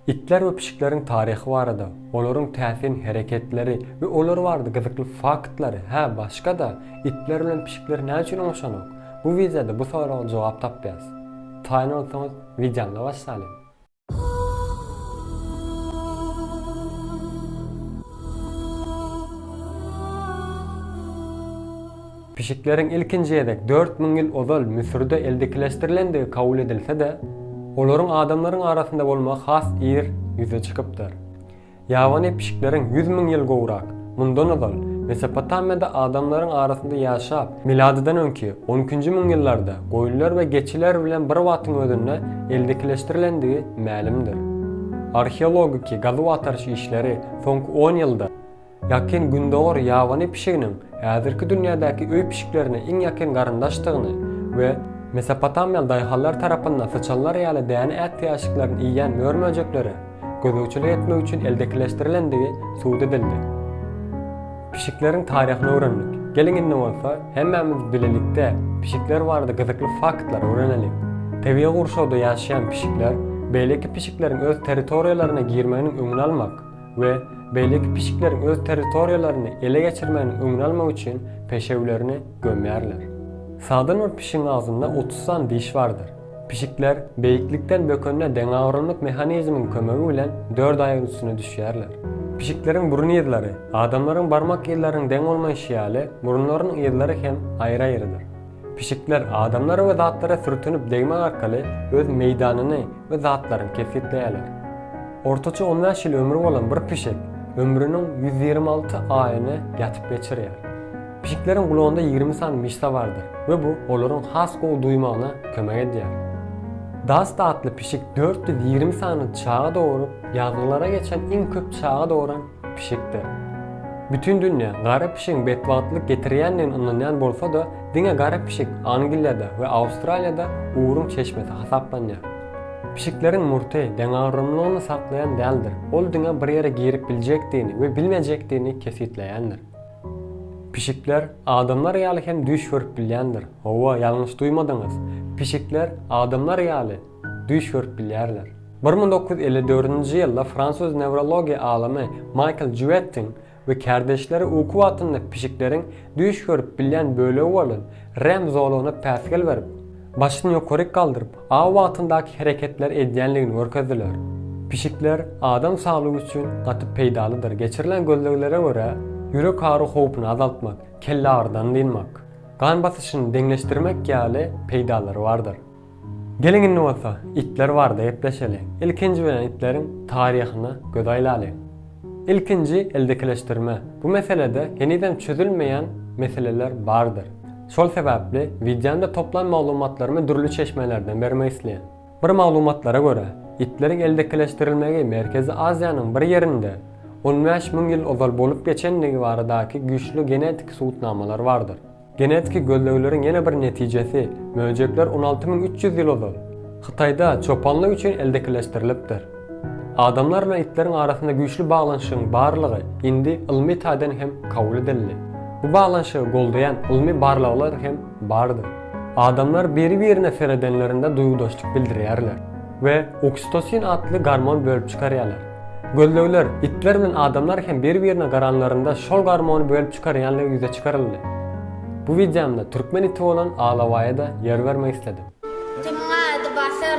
Itler we pişikleriň taryhy barada, olaryň täsin hereketleri we olar barada gyzykly faktlary, hä, başga-da, itler bilen pişikler näme üçin oňşanok? Bu wideoda bu soraga jogap tapýas. Taýyn bolsaňyz, wideony başlalyň! Pişikleriň ilkinji gezek dört müň ýyl ozal Müsürde eldekileşdirilendigi kabul edilse-de, olaryň adamlaryň arasynda bolmagy has ir ýüze çykypdyr. Ýabany pişikleriň ýüz müň ýyl gowrak mundan ozal Mesopotamiýada adamlaryň arasynda ýaşap, miladydan öňki on ikinji müň ýyllarda goýunlar we geçiler bilen bir wagtyň özünde eldekileşdirilendigi mälimdir. Arheologiki gazuw-agtaryş işleri soňky on ýylda, Ýakyn Gündogar ýabany pişiginiň häzirki dünýädäki öý pişiklerine iň ýakyn garyndaşdygyny we mesopotamiýaly daýhanlar tarapynda syçanlar ýaly däne ätiýaçlyklaryny iýýän mör-möjeklere gözegçilik etmek üçin eldekileşdirilendigi subut edildi. Pişikleriň taryhyny öwrendik. Geliň indi bolsa, hemmämiz bilelikde pişikler barada gyzykly faktlary öwrenelim. Tebigy gurşawda ýaşaýan pişikler beýleki pişikleriň öz territoriýalaryna girmeginiň öňüni almak, we beýleki pişikleriň öz territoriýalaryny ele geçirmeginiň öňüni almak üçin peşewlerini gömýärler. Sagdyn bir pişigiň agzynda otuz sany diş bardyr. Pişikler beýiklikden bökenine deňagramlyk mehanizmiň kömegi bilen dört aýagyň üstüne düşýärler. Pişikleriň burun yzlary, adamlaryň barmak yzlarynyň deň bolmaýşy ýaly, burunlarynyň yzlary hem aýry-aýrydyr. Pişikler adamlara we zatlara sürtünip degmek arkaly öz meýdanyny we zatlaryny kesgitleýärler. Ortaça on bäş ýyl ömri bolan bir pişik ömrüniň ýüz ýigrimi alty aýyny ýatyp geçirýär. Pişikleriň gulagynda ýigrimi sany myşsa bardyr we bu olaryň has gowy duýmagyna kömek edýär. Dasta atly pişik dört ýüz ýigrimi sany çaga doguryp, ýazgylara geçen iň köp çaga doguran Pişikdir. Bütin dünýä gara pişigiň betbagtlyk getirýändigine ynanýan bolsa-da, diňe gara pişik Angliýada we Awstraliýada ugruň çeşmesi hasaplanýar. Pişikleriň murty deňagramlylygyny saklaýan däldir, ol diňe bir ýere girip biljekdigini we bilmejekdigini kesgitleýändir. Pişikler adamlar ýaly hem düýş görüp bilýändir. Hawa, ýalňyş duýmadyňyz. Pişikler adamlar ýaly. düýş görüp bilýärler. Bir müň dokuz ýüz elli dördünji ýylda fransuz newrologiýa alymy Maýkl Jüwettiň we kärdeşleri uky wagtynda pişikleriň düýş görüp bilýän bölegi bolan REM zolagyna päsgel berip, başyny ýokaryk galdyryp, aw wagtyndaky hereketleri edýänligini görkezdiler. Pişikler adam saglygy üçin gaty peýdalydyr, geçirilen gözleglere görä, ýürek agyry howpuny azaltmak, kellagyrydan dynmak, gan basyşyny deňleşdirmek ýaly peýdalary bardyr. Geliň indi bolsa itler barada gepleşeli. Ilkinji bilen itleriň taryhyna göz aýlalyň. Ilkinji eldekileşdirme. Bu meselede henizem çözülmeýän meseleler bardyr. Şol sebäpli wideomda toplan maglumatlarymy dürli çeşmelerden bermek isleýän. Bir maglumatlara görä, itleriň eldekileşdirilmegi Merkezi Aziýanyň bir ýerinde on bäş müň ýyl ozal bolup geçendigi baradaky güýçli genetik subutnamalar bardyr. Genetiki gözlegleriň ýene bir netijesi, möjekler on alty müň üç ýüz ýyl ozal, Hytaýda çopanlyk üçin eldekileşdirilipdir. Adamlar bilen itleriň arasynda güýçli baglanyşygyň barlygy indi ylmy taýdan hem kabul edildi. Bu baglanyşygy goldaýan ylmy barlaglar hem bardyr. Adamlar biri-birine seredenlerinde duýgudaşlyk bildirýärler we oksitosin atly gormon bölüp çykarýarlar. Gözlegler, itler bilen adamlar hem bir-birine garanlarynda şol garmony bölüp çykarýanlygy ýüze çykaryldy. Bu wideomda türkmen iti bolan Alabaýa-da ýer bermek isledim. Itimiň ady Batyr.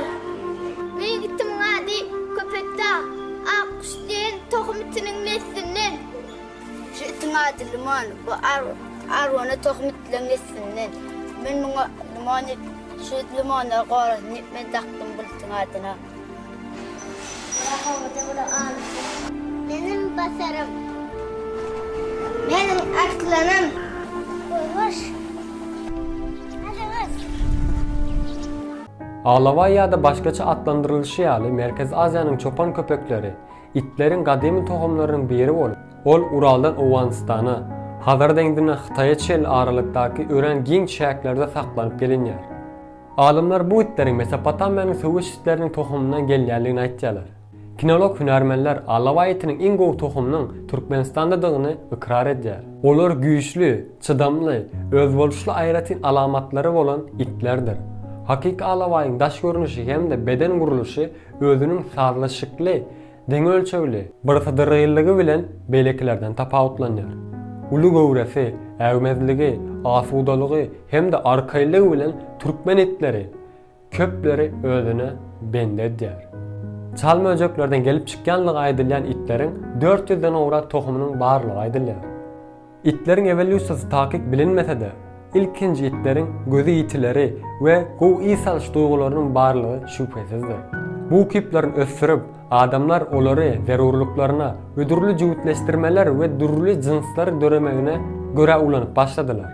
Meň itimiň ady Köpetda. Akguş diýen tohum itiniň neslinden. Şu itiň ady Limon. Bu arwana tohum itleň neslinden. Men muňa Limon diýip, şu limona gorazyny men dakdym bu itiň adyna. Meniň basarym. Meniň arslanym. Goýbaş. Ajagyz. Alabaý ýa-da başgaça atlandyrylyşy ýaly Merkezi Aziýanyň çopan köpekleri, itleriň gadymy tohumlarynyň biri bolup, ol Uraldan Owganystana, Hazar deňzinden Hytaýa çenli aralykdaky örän giň çäklerde saklanyp gelinýär. Alymlar bu itleriň Mesopotamiýanyň söwüş itleriniň tohumyndan gelýändigini aýtýarlar. Kinolog hünärmenler alabaý itiniň iň gowy tohumynyň Türkmenistandadygyny ykrar edýär. Olar güýçli, çydamly, özboluşly aýratyn alamatlary bolan itlerdir. Hakyky alabaýyň daş görnüşi hem-de beden gurluşy özüniň sazlaşykly, Deň ölçegli, birsydyryllygy bilen beýlekilerden tapawutlanýar. Uly göwresi, äwmezligi, asudalygy hem-de arkaýlygy bilen türkmen itleri köpleri özüne bendi edýär. Çal möjeklerden gelip çykýanlygy aýdylýan itleriň dört ýüzden gowrak tohumynyň barlygy aýdylýar. Itleriň ewolýusiýasy takyk bilinmese-de, ilkinji itleriň gözi ýitileri we gowy ys alyş duýgularynyň barlygy şübhesizdir. Bu ukyplaryny ösdürip, adamlar olary zerurlyklaryna, hödürli jübütleşdirmeler we dürli jynslar döremegine görä ulanyp başladylar.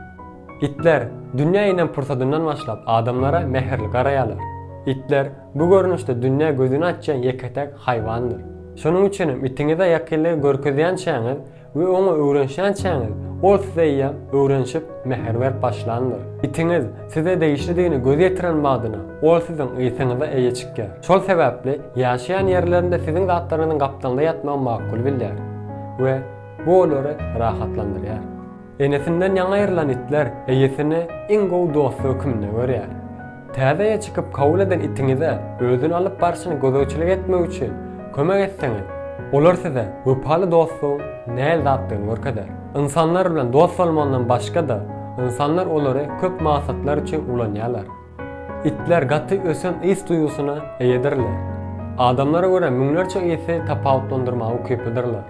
Itler dünýä inen pursadyndan başlap adamlara mähirli garaýarlar. Itler bu görnüşde dünýä gözüni açýan ýeke-täk haýwandyr. Şonuň üçinem itiňize ýakynlygy görkezýänçäňiz, we oňa öwrenişýänçäňiz, ol size-ä öwrenişip, mähir berip başlandyr. Itiňiz size degişlidigine göz ýetiren badyna, ol siziň ysyňyza eýe çykýar. Şol sebäpli ýaşaýan ýerlerinde siziň zatlaryňyzyň gapdalynda ýatmagy makul bilýär we bu olary rahatlandyrýar. Enesinden ýaňa aýrylan itler eýesini iň gowy dosty hökmünde görýär. Täzeye çykyp kabul eden itiňize özüni alyp barşyny gözegçilik etmek üçin kömek etseňiz, olar size wepaly dostuň näl zatdygyny görkezer. Ynsanlar bilen dost bolmandan başga-da, ynsanlar olary köp maksatlar üçin ulanýarlar. Itler gaty ösen ys duýgusyna eýedirler. Adamlara görä müňlerçe ysy tapawutlandyrmaga ukyplydyrlar.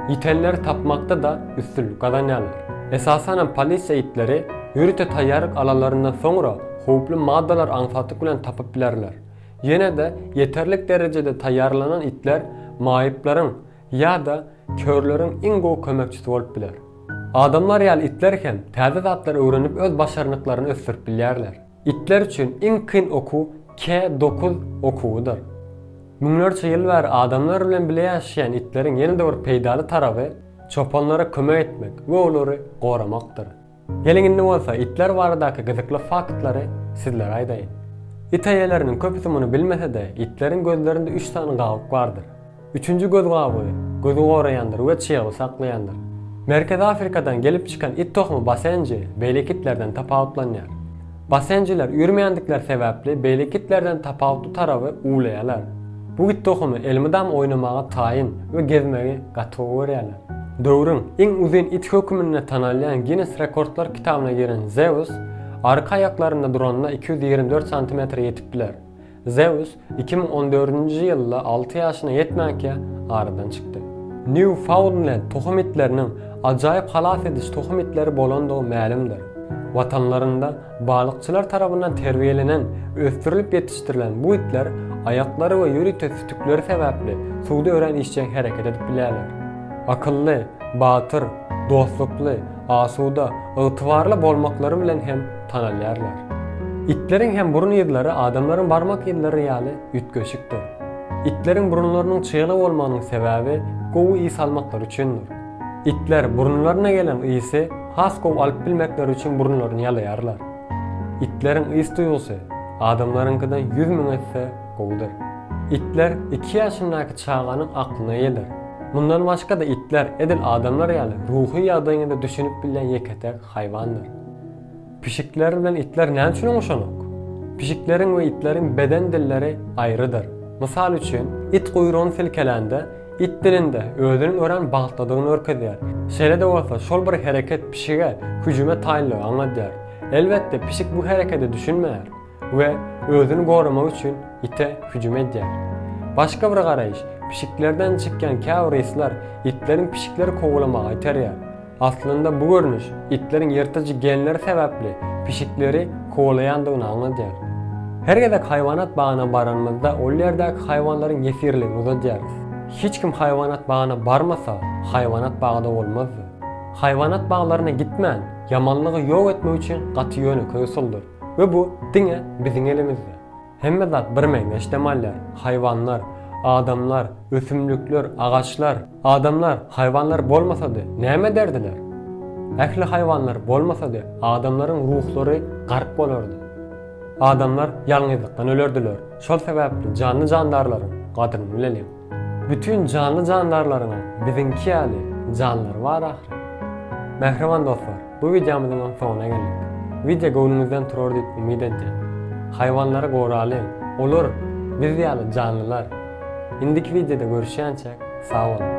Ýitenleri tapmakda-da üstünlik gazanýarlar. Esasanam polisiýa itleri ýörite taýýarlyk alanlaryndan soňra, howply maddalar aňsatlyk bilen tapyp bilerler. Ýene-de ýeterlik derejede taýýarlanan itler maýyplaryň ýa-da körleriň iň gowy kömekçisi bolup biler. Adamlar ýaly itler hem täze zatlary öwrenip öz başarnyklaryny ösdürip bilýärler. Itler üçin iň kyn okuw K dokuz okuwydyr. Müňlerçe ýyl bäri adamlar bilen bile ýaşaýan itleriň ýene-de bir peýdaly taraby çopanlara kömek etmek we olary goramakdyr. Geliň indi bolsa itler baradaky gyzykly faktlary sizlere aýdaýyn. It eýeleriniň köpüsi muny bilmese-de, itleriň gözlerinde üç sany gabyk bardyr. Üçünji göz gabygy, gözi goraýandyr we çyýagy saklaýandyr. Merkezi Afrikadan gelip çykan it tohumy basenji, beýleki itlerden tapawutlanýar. Basenjiler üýrmeýändikleri sebäpli beýleki itlerden tapawutly taraby uwlaýarlar. Bu it tohumy elmydama oýnamaga taýyn we gezmegi gaty gowy görýärler. Döwrüň iň uzyn iti höküminde tanalýan Ginnes rekordlar kitabyna giren Zeus arka aýaklarynda duranda iki ýüz ýigrimi dört santimetre ýetip biler. Zeus iki müň on dördünji ýylda alty ýaşyna ýetmänkä aradan çykdy. Nýufaunnlend tohum itleriniň ajaýyp halas ediş tohum itleri bolandygy mälimdir. Watanlarynda balykçylar tarapyndan terbiýelenen, ösdürilip ýetişdirilen bu itler aýaklary we ýörite sütükleri sebäpli suwda örän işjeň hereket edip bilýärler. Akylly, batyr, dostlukly, asuda, ygtybarly bolmaklary bilen hem Tanalýarlar. Itleriň hem burun yzlary adamlaryň barmak yzlary ýaly üýtgeşikdir. Itleriň burunlarynyň çygly bolmagynyň sebäbi gowy ys almaklary üçindir. Itler burunlaryna gelen ysy has gowy alyp bilmekleri üçin burunlaryny ýalaýarlar. Itleriň ys duýgusy adamlaryňkydan ýüz müň esse gowudyr. Itler iki ýaşyndaky çaganyň aklyna geler. Mundan başga-da itler edil adamlar ýaly ruhy ýagdaýyňyza düşünip bilýän ýeke-täk haýwandyr. Pişikler bilen itler näme üçin oňşanok? Pişikleriň we itleriň beden dilleri aýrydyr. Mysal üçin, it guýrugyny silkelände, it dilinde özüniň örän bagtlydygyny görkezýär. Şeýle-de bolsa, şol bir hereket pişige hüjüme taýynlygy aňladýar. Elbetde, pişik bu herekete düşünmeýär. we özüni goramak üçin ite hüjüm edýär. Başga bir garaýyş, pişiklerden çykýan käbir yslar itleriň pişikleri kowalamaga iterýär. Aslynda bu görnüş itleriň ýyrtyjy genleri sebäpli pişikleri kowalaýandygyny aňladýar. Her gezek haýwanat bagyna baranymyzda ol ýerdäki haýwanlaryň ýesirligini uzadýarys. Hiç kim haýwanat bagyna barmasa, haýwanat bagy-da bolmazdy. Haýwanat baglaryna gitmän, ýamanlygy ýok etmek üçin gaty ýönekeý usuldyr. We bu diňe biziň elimizde. Hemme zat birmeňzeş dem alýar. Haýwanlar, adamlar, ösümlikler, agaçlar. Adamlar, haýwanlar bolmasady, näme ederdiler? Ähli haýwanlar bolmasady, adamlaryň ruhlary gark bolardy. Adamlar ýalňyzlykdan ölerdiler. Şol sebäpli janly-jandarlaryň gadryny bileliň. Bütin janly-jandarlaryň hem biziňki ýaly janlary bar ahyry. Mähriban dostlar, bu wideomyzyň hem soňuna geldik. Wideo göwnüňizden turar diýip umyt edýän. Haýwanlary goralyň, olar biz ýaly janlylar. Indiki wideoda görüşýänçäk, sag boluň!